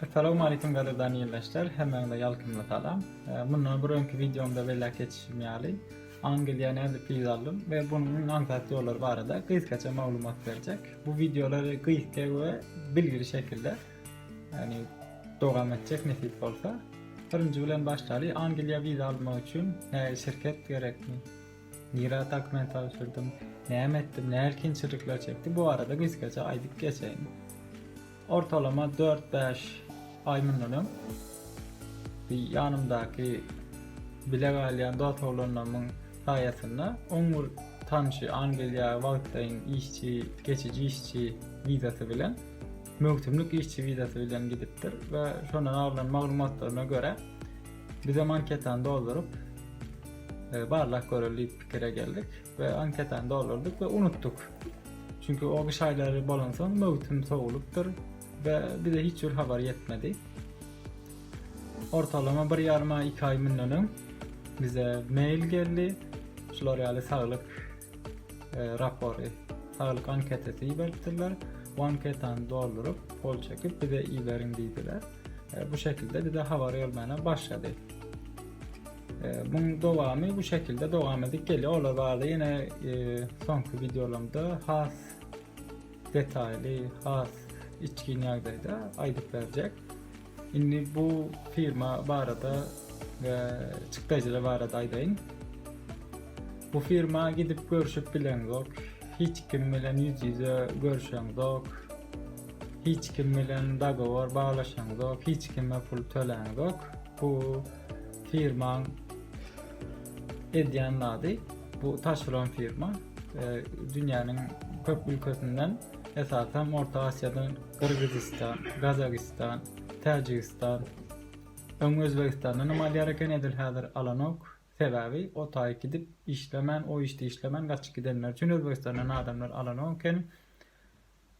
Assalamu aleykum gadyrdan ildeşler, hemmäňize ýalkymly salam. Mundan bir öňki wideomda belläp geçişim ýaly, Angliýa nädip wiza aldym we bunuň aňsat ýollary barada gysgaça maglumat berjek. Bu wideolary gysga we bilgili şekilde, ýagny dowam etjek nesip bolsa. Birinji bilen başlaly, Angliýa wiza almak üçin näge şirket gerekmi? Nirä dokument tabşyrdym, näme etdim, nähili kynçylyklary çekdim, bu barada gysgaça aýdyp geçeýin. Ortalama dört-bäş aý mundan öň bi ýanymdaky bile galýan dost-oglanlarymyň saýasynda oň bir tanşy Angliýa wagtlaýyn işçi, geçiji işçi wizasy bilen, möwsümlik işçi wizasy bilen gidipdir we şondan alnan maglumatlaryna görä, Bizem anketany dolduryp, e, barlak göreli diýip pikire geldik we anketany doldurdyk we unutdyk. Çünki o gyş aýlary bolansoň möwsüm sowulypdyr we bize hiç bir habar ýetmedi. Ortalama bir ýarym aý, iki aý mundan öň bize mail geldi. Şular ýaly saglyk e, rapory, saglyk anketesi iberipdirler. Bu anketany dolduryp, gol çekip bize iberiň diýdiler. e, bu şekilde bize habar gelmäne başlady. E, Bunun dowamy bu şekilde dowam edip geliyor. Ola barada yine e, sonki videolarımda has detaylı, has içkin ýagdaýda aýdyp berjek. Indi bu firma barada we çykdajylar barada aýdaýyn. Bu firma gidip görüşip bileňok, hiç kim bilen ýüz-ýüze görüşeňok. hiç kim bilen dagowar baglaşaňzok, hiç kime pul töläňzok. Bu firmaň edýän zady, bu taşeron firma. E, dünýäniň köp ülkesinden, esasan Orta Aziýadan Gyrgyzystan, Gazagystan, Täjigistan, öň Özbegistandan hem alýar eken, edil häzir alanok. Sebäbi o taýy gidip işlemän, o işde işlemän gaçyp gidenler üçin Özbegistandan adamlar alanok eken.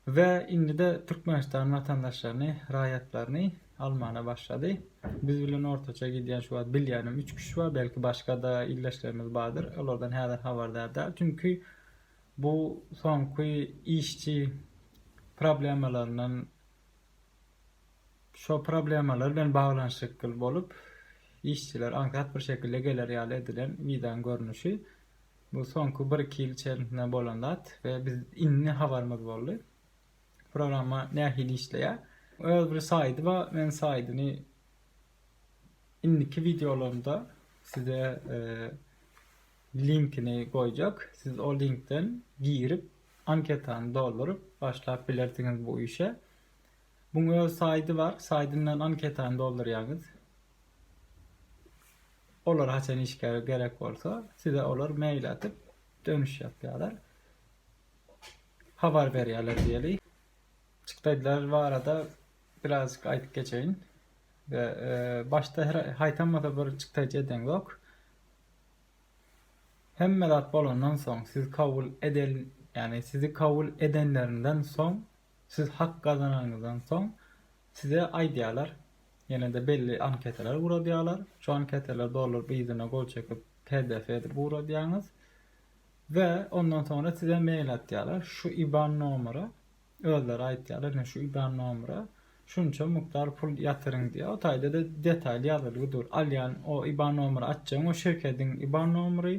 We indide Türkmenistan watandaşlaryny, raýatlaryny almana başlady. Biz bilen ortaça gidýän şu wagt bilýänim üç kişi bar, belki başgada ildeşlerimiz bardyr, olardan häzir habardar däl. Çünki bu soňky işçi problemalaryndan şo problemalar bilen baglanyşykly bolup işçiler aňsat bir şekilde geler ýaly edilen wizaň görnüşi. Bu soňky bir-iki ýyl içerisinde bolan zat we biz indi habarymyz boldy. Programma nähili işleýär? Öz bir saýdy bar. Men saýdyny indiki wideolarymda size linkini goýjak. Siz o linkden girip, anketany dolduryp başlap bilersiňiz bu işe. Buň öz saýdy bar. Saýdyndan anketany doldurýaňyz. Olar haçan işgär gerek bolsa, size olar mail atyp, dönüş ýapýarlar. Habar berýärler diýeli. Çykdaýlar barada birazjyk aýdyp geçeýin. Ve e, başda haýtamasa bir çykdaýjy eden yok. Hemme zat bolandan soň siz kabul edel yani sizi kabul edenlerinden soň Siz hak gazananyňyzdan soň size aýdýarlar, ýene-de belli anketalar guradýarlar. Şu anketalary dolduryp yzyna gol çekip pdf edip guradýaňyz we ondan soňra size mail atýarlar. Şu iban nomera özleri aýtýarlar, ine şu iban nomera şunça mukdar pul ýatyryň diýýär. O taýda-da detaly ýazylgy dur. Alýan o iban nomera atjagyň o şirketiň iban nomery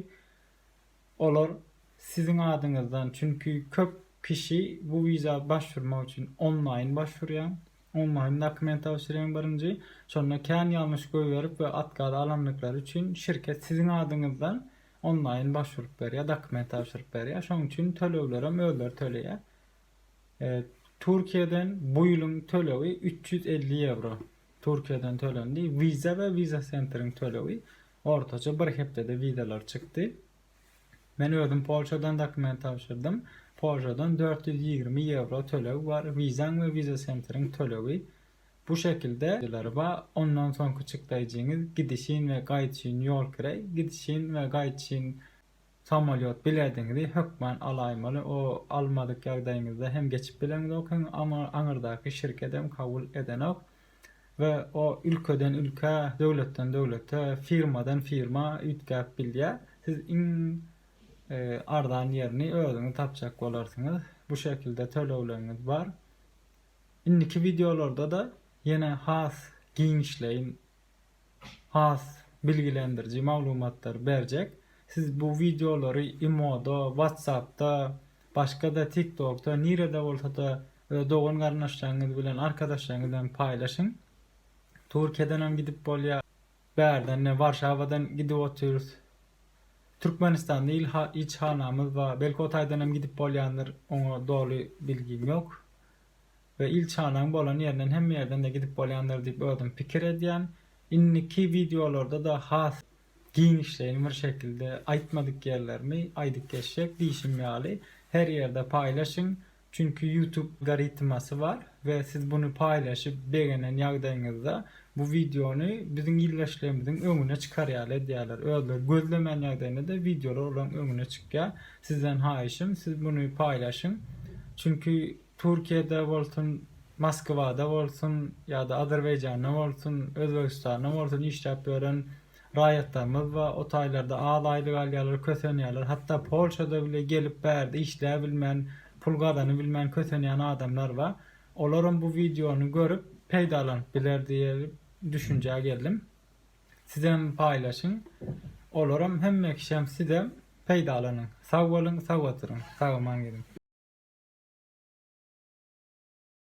Olar siziň adyňyzdan, çünki köp kişi bu wiza başvurmak üçin onlaýyn başwurýar, onlaýyn dokument tabşyrýar birinji, şonda kän ýalňyş goýberip we otkaz alandyklary üçin şirket siziň adyňyzdan onlaýyn başwuryp berýär, dokument tabşyryp berýär, şonuň üçin töleglerem özleri töleýär. Türkiýeden bu ýylyň tölegi üç ýüz elli ýewro Türkiýeden tölendi, wiza we wiza-sentriň tölegi Ortaça bir hepdede wizalar çykdy. Men özüm Polşadan dokument tabşyrdym. Polşadan dört ýüz ýigrimi ýewro töleg bar, wizaň we wiza sentriň tölegi bu şekilde, wizalar bar, ondan soňky çykdaýjyňyz gidişin we gaýdyşyn ýol kireý, gidişin we gaýdyşyn Samolýot bilediňizi hökman alaýmaly o almadyk ýagdaýyňyzda hem geçip bileňizok hem aňyrdaky şirkedem kabul edenok we o ülkeden ülkä döwletden döwlete firmadan firma üýtgäp bilýä siz iň arzan ýerini özüňiz tapjak bolarsyňyz bu şekilde tölegleriňiz bar indiki wideolardada ýene has giňişleýin has bilgilendiriji maglumatlary berjek. Siz bu wideolary imoda, whatsappda, başga-da tiktokda nirede bolsada öz dogan garyndaşlaryňyz bilen arkadaşlaryňyz bilen paýlaşyň. Türkiýedenem gidip bolýar. Bärden ine Warşawadan gidip otyrys. Türkmenistanda ilçihanamyz bar. Belki o taýdanam gidip bolýandyr, oňa doly bilgim ýok. we ilçihanaň bolan ýerinden hemme ýerden-de gidip bolýandyr diýip özüm pikir edýän. Indiki wideolarda-da has giňişleýin bir şekilde aýtmadyk ýerlerimi aýdyp geçjek diýşim ýaly, her ýerde paýlaşyň, çünki ýutub garytmasy bar we siz buny paýlaşyp begenen ýagdaýyňyzda bu wideony biziň ildeşlerimiziň öňüne çykar ýaly edýärler, özleri gözlemän ýagdaýynda-da wideolar olaryň öňüne çykýar. Sizden haýyşym siz buny paýlaşyň, çünki Türkiýede bolsun, Moskwada bolsun ýa-da Azerbaýjanda bolsun, Özbegistanda bolsun işläp ýören raýatlarymyz we o taýlarda az aýlyk alýarlar, kösenýärler. Hatda Polşada bile gelip bärde işläbilmän, pul gazanybilmän kösenýän adamlar bar. Olaram bu wideony görüp peýdalanyp biler diýip düşünjä geldim. Sizem paýlaşyň olaram hemme kişem sizem peýdalanyň sag boluň sag oturyň sagaman geliň.